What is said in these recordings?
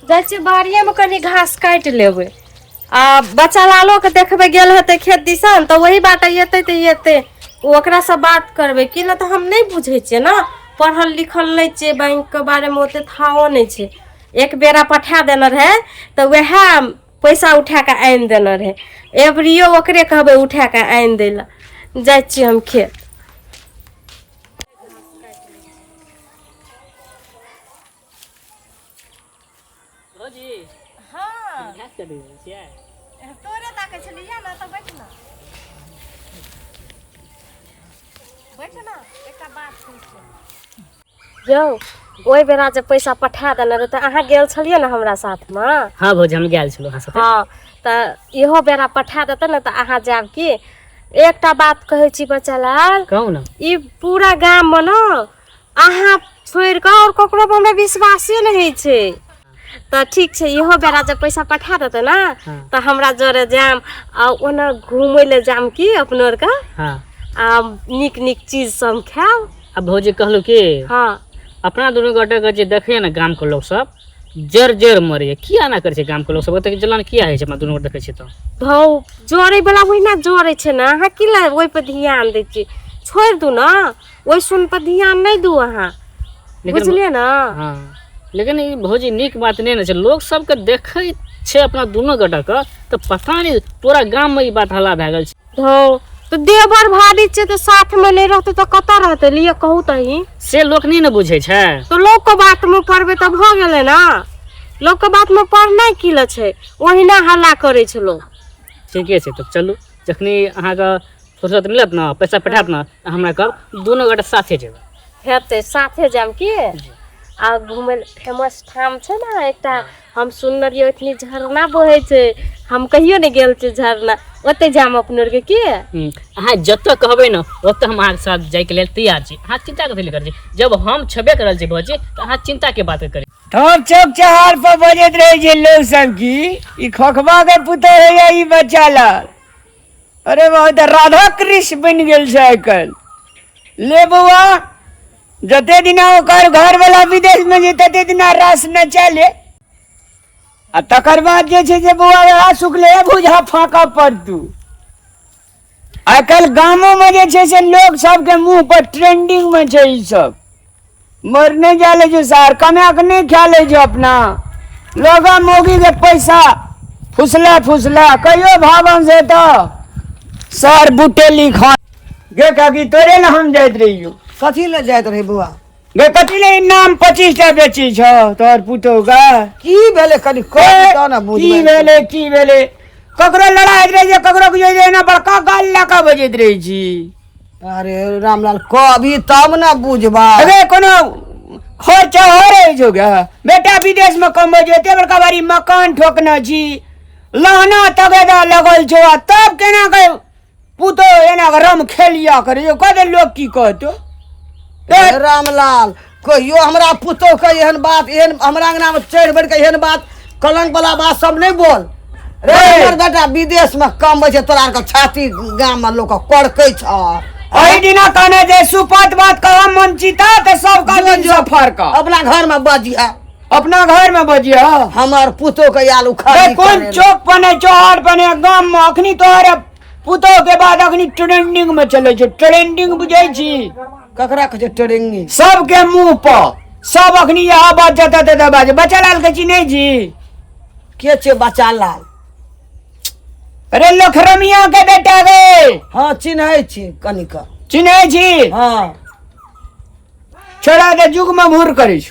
जाइ छियै बाड़िएमे कनि घास काटि लेबै आ बच्चा लालोके देखबै गेल हेतै खेत दिसन तऽ वही बाटे अयतै तऽ अयतै ओकरासँ बात करबै कि नहि तऽ हम नहि बुझै छियै ने पढ़ल लिखल नहि छियै बैंकके बारेमे ओतेक थाहो नहि छै एक बेरा पठा देने रहै तऽ वएह पैसा उठा कऽ आनि देने रहै एवरियो ओकरे कहबै उठा कऽ आनि दै लए जाइ छियै हम खेत भौजी हाँ घास चढ़ि रहल छियै तोरे ताकै छलियै ने तऽ बैठ ना बैठ ना एकटा बात सुन यौ ओहि बेरा जे पैसा पठा देने रहै तऽ अहाँ गेल छलियै ने हमरा साथमे हाँ भौजी हम गेल छलहुँ अहाँ साथे हाँ तऽ इहो बेरा पठा देतै ने तऽ अहाँ जायब की एकटा बात कहै छी बच्चा लाल कहू ने ई पूरा गाममे ने अहाँ छोड़ि कऽ आओर ककरो पर हमरा विश्वासे नहि होइ छै तऽ ठीक छै इहो बेरा जब पैसा पठा देतै ने हाँ। तऽ हमरा जरे जायब आ ओना घूमय लए जायब की अपना आरके हाँ आ नीक नीक चीज सब हम खायब अब भौजी कहलू कि हँ अपना दुनू गोटे के जे देखैया ने गाम के लोग सब जर जर मरैया किया ना करे छै गाम के लोग सब ओते जलन किया होइ छै अपना दुनू गोटे देखै छियै तऽ धौ जोड़ै बला ओहिना जोड़ै छै ने अहाँ की लए ओहि पर ध्यान दै छियै छोड़ि दू ने ओहि सुन पर ध्यान नहि दू अहाँ लेकिन बुझलियै ने हँ लेकिन ई भौजी नीक बात नहि ने छै लोक सबके देखै छै अपना दुनू गोटा के तऽ पता नहि पूरा गाम में ई बात हल्ला भए गेल छै धौ तऽ देवर भाभी छै तऽ साथ में नहि रहतै तऽ कतऽ रहतै लिए कहू तही से लोक नहि ने बुझै छै तो लोग के बात में पढ़बे तो भ गेले ना लोग के बात में पढ़ना की ल छै ओहिना हल्ला करे छै लोग ठीके छै तब चलू जखनी अहाँके फुर्सत मिलत ने पैसा पठायत ने तऽ हमरा कहब दुनू गोटा साथे जेबै हेतै साथे जायब की आ घूमे फेमस ठाम छै ने एकटा हम सुनने रहियै ओतनी झरना बहै छै हम कहियो नहि गेल छी झरना ओतै जायब अपने आरके की हम्म, अहाँ जतऽ कहबै ने ओतऽ हम अहाँके साथ जायके लेल तैयार छी अहाँ चिंता कथी लए करै छी जब हम छेबे करल छी भौजी तऽ अहाँ चिंताके बात करै ठोक चौक चहार पर बजैत रहै छै लोग सब की ई खोखबा के पुतौ होइया ई बच्चा लाल अरे बाबा तऽ राधा कृष्ण बनि गेल छै आइ काल्हि ले बौआ जते दिना ओकर घरवला विदेशमे जे तते दिना रास नचा ले आ तकर बाद जे छै जे बौआ वएह सुखले बुझा फाँकऽ पड़तू आइ काल्हि गामोमे जे छै से लोक सबके मुँह पर ट्रेंडिंग मे छै ई सब मर नहि जा लै छै सार कमा कऽ नहि खा लै छै अपना लोगा मोगी के पैसा फुसला फुसला कहियो भावन से तऽ सर बुटेली खान गे काकी तोरे ने हम जाइत रहियो कथी ले जाइत रही बौआ गे कथी ले ई नाम पच्चीस टा बेची छ तोहर पुतौ गा की भेलै कनि कह दऽ ने बुझबै की भेलै की भेलै ककरो लड़ाइत रहै छै ककरो बुझै छै एना बड़का गाल लऽ कऽ बजैत रहै छी अरे रामलाल कहबी तब ने बुझबा अरे कोनो खर्चा हो रहै छौ गे बेटा विदेश में कमबै छै एते बड़का बारी मकान ठोकने छी लहना तगेदा लगल छौ आ तब केना के पुतो एना के रम खेलिया करे यो कदे लोग की कहतो हे रामलाल कहियो हमरा पुतोह के एहन बात एहन हमरा अंगना में चढ़ बढ़ के एहन बात कलंक वाला बात सब नहीं बोल रे रे। हमर बेटा विदेश में कम छै तोरा आर के छाती गाम में लोग कड़कै छ ओहि दिना कहने जे सुपत बात कहम मन चिता ते सब का जो- दिन जो- से फरका अपना घर में बजिया अपना घर में बजियो हमार पुतो के याल उखाड़ बे, कोन चौक पने चौहार पने गाम में अखनी तोहरे पुतो के बाद अखनी ट्रेंडिंग में चले छै ट्रेंडिंग बुझै छी ककरा कहे ट्रेंडिंग सबके मुंह पर सब अखनी यह बात जता तता बाज बच्चा लाल के चिन्है छी के छे बच्चा लाल अरे लखरमिया के बेटा गे हाँ चिन्है छी कनिक चिन्है छी हाँ छोड़ा के जुग में भूर करै छी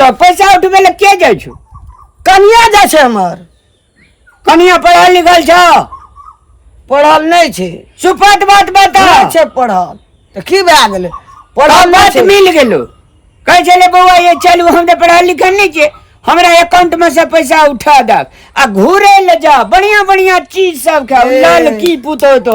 तऽ पैसा उठबै लए के जाइ छौ कनिया जाइ छै हमर कनिया पढ़ल लिखल छौ पढ़ल नहि छै सुपट बात बता नहि छै पढ़ल तऽ की भए गेलै पढ़ल पढ़ल नहि बात छै मिल गेलो कहै छलै बौआ ये चलू हम तऽ पढ़ल लिखल नहि छियै हमरा एकाउंट में से पैसा उठा दक आ घूरे ले जा बढ़िया बढ़िया चीज सब खाओ ए। लड़की पुतो तो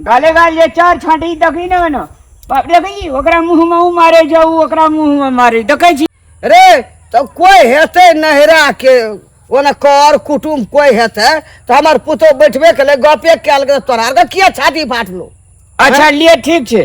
गाले गाल जे चार छाँटी देखी ने ओना बाप देखै छी ओकरा मुँहमे ओ मारै छै ओ ओकरा मुँहमे मारै देखै छी रे तऽ कोइ हेतै नहिराके ओने कर कुटुम कोइ हेतै तऽ हमर पुतहु बैठबे केलै गपे कयल गेलै तोरा आरके किया छाती फाटलो अच्छा लिए ठीक छै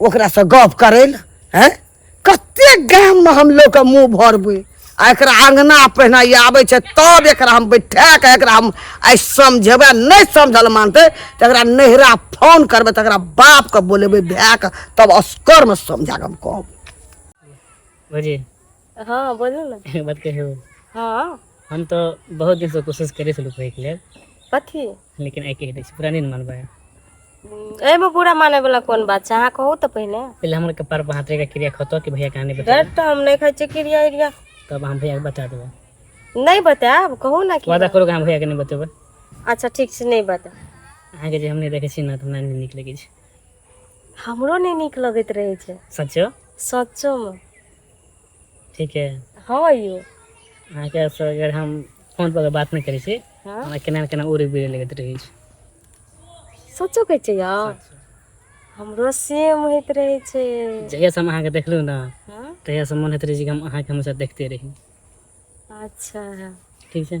ओकरासँ गप करै लए हैं कते गाममे हम लोकके मुँह भरबै आ एकरा अङ्गना पहिने ई आबै छै तब एकरा हम बैठा कऽ एकरा हम आइ समझेबै नहि समझल मानतै तऽ एकरा नैहरा फोन करबै तऽ एकरा बापके बोलेबै भायके तब असकरमे समझा कऽ हम कहबै भौजी हँ बोलू ने एगो बात कहियौ हँ हम तऽ बहुत दिनसँ कोशिश करै छलहुँ कहैके लेल कथी लेकिन आइ कहि दै छी पूरा नहि ने मानबै एहिमे पूरा मानै वाला कोन बात छै अहाँ कहू तऽ पहिने पहिले हमर कपार पर हाथ रखि क्रिया खतो कि भैया कहानी बता डर तऽ हम नहि खाइ छियै क्रिया इरिया तब हम भैया के बता देबै नहि बतायब कहू ने कि वादा करू कि हम भैया के नहि बतेबै अच्छा ठीक छै नहि बता अहाँके जे हम नहि देखै छी ने तऽ हमरा नहि नीक लगै छै हमरो नहि नीक लगैत रहै छै सच्चो सच्चोमे ठीक है हँ यौ अहाँके स अगर हम फोन पर बात नहि करै छी हँ हमरा केना ने केना उड़ि बिर लगैत रहै छै सचो कहै छै यौ हमरो सेम होइत रहै छै जहियासँ हम अहाँके देखलहुँ ने हँ तहियासँ मोन होइत रहै छै कि हम अहाँके हमेशा देखते रही अच्छा ठीक छै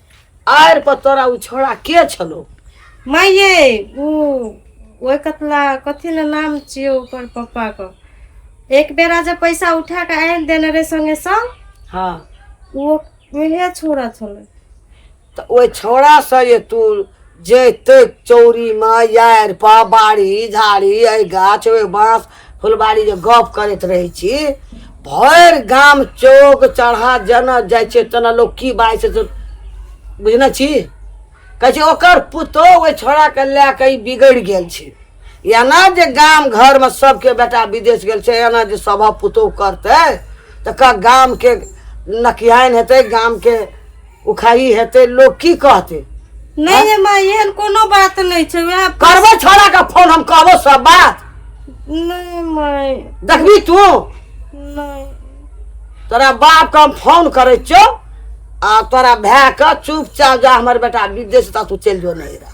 आर पर तोरा उ छोड़ा के छलो माय ये ओ ओए कतला कथी न नाम छिए ओकर पप्पा के एक बेरा जब पैसा उठा के आन देने रे संगे संग हाँ वो उहे छोड़ा छले त ओहि छोड़ा से ये तू जतेक चौरीमे यारिपा बाड़ी झाड़ी एहि गाछ ओहि बाँस फुलबाड़ी जे गप करैत रहै छी भरि गाम चौक चढ़ा जेना जाइ छै तेना लोक की बाजै छै से बुझने छी कहै छै ओकर पुतोह ओहि छोड़ाके लए कऽ ई बिगड़ि गेल छै एना जे गाम घरमे सभके बेटा विदेश गेल छै एना जे सभ पुतोह करतै तऽ गामके नकिहाइन हेतै गामके उखाही हेतै लोक की कहतै नहीं है माँ ये कोनो बात नहीं छे वे आप करबो छोरा का फोन हम कहबो सब बात नहीं माय देखबी तू नहीं तोरा बाप का फोन करे छो आ तोरा भै का चुपचाप जा हमर बेटा विदेश ता तू चल जो नहीं रहा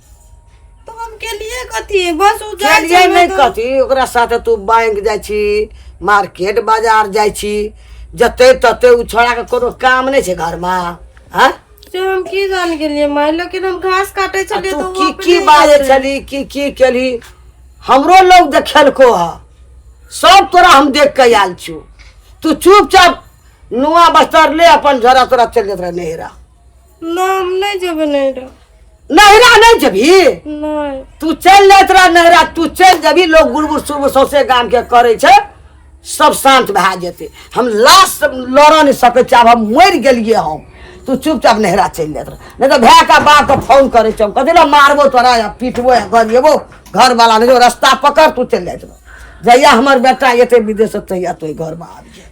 तो हम के लिए कथी बस उ जाय चलिए छै नहीं तो- कथी ओकरा साथे तू बैंक जाइ छी मार्केट बाजार जाइ छी जते तते उ छोड़ा के कोनो काम नहीं छै घर में हैं से हम की जान के लिए माय लेकिन हम घास काटे आ छलिए तू तो की की बाजे छली की की केली हमरो लोग देखेलको ह सब तोरा हम देख के आयल छु तू चुपचाप नुआ बस्तर ले अपन झोरा तोरा चल जात रहे नहरा ना हम नहीं जेबे नहीं रह नहरा नहीं जबी नहीं तू चल ले तोरा नहरा तू चल जबी लोग गुड़गुड़ सुरगुड़ सौसे गाम के करे छे सब शांत भए जेते हम लाश लड़ नहीं सके छी आब हम मरि गेलिए हम तू चुपचाप नहरा चल जात नहीं तो भए का बाप के फोन करे छे कथी ना मारबो तोरा या पीटबो या गरिएबो घर वाला ने जो रास्ता पकड़ तू चल जात जहिया हमर बेटा एते विदेश से तहिया तो घर में आबि जाए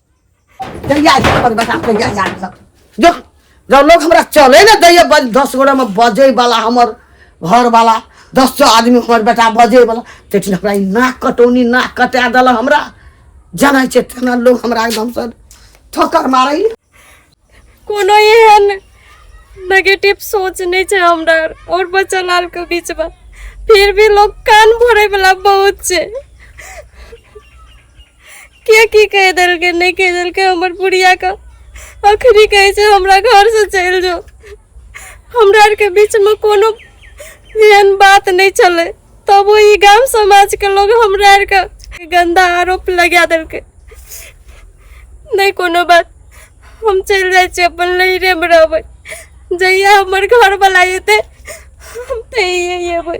जल्दी आ जा पर बता के जा जा सब जो जब लोग हमरा चले ना दैया बज दस गोड़ा में बजे वाला हमर घर वाला दस सौ आदमी हमर बेटा बजे वाला तेठिन हमरा ई नाक कटौनी नाक कटा देला हमरा जानै छै तेना लोग हमरा एकदम से ठोकर मारै कोनो एहन नेगेटिव सोच नहीं है हमरा और बच्चा लाल के बीच में फिर भी लोग कान भरे वाला बहुत है के की कह दिल के नहीं कह दिल के हमर बुढ़िया का अखरी कहे से हमरा घर से चल जाओ हमरा के बीच में कोनो एहन बात नहीं चले तब ओ ई गाम समाजके लोग हमरा आरके गन्दा आरोप लगा देलकै नहि कोनो बात हम चलि जाइ छी अपन लहिरेमे रहबै जहिया हमर घरवला एतै हम तहिए अयबै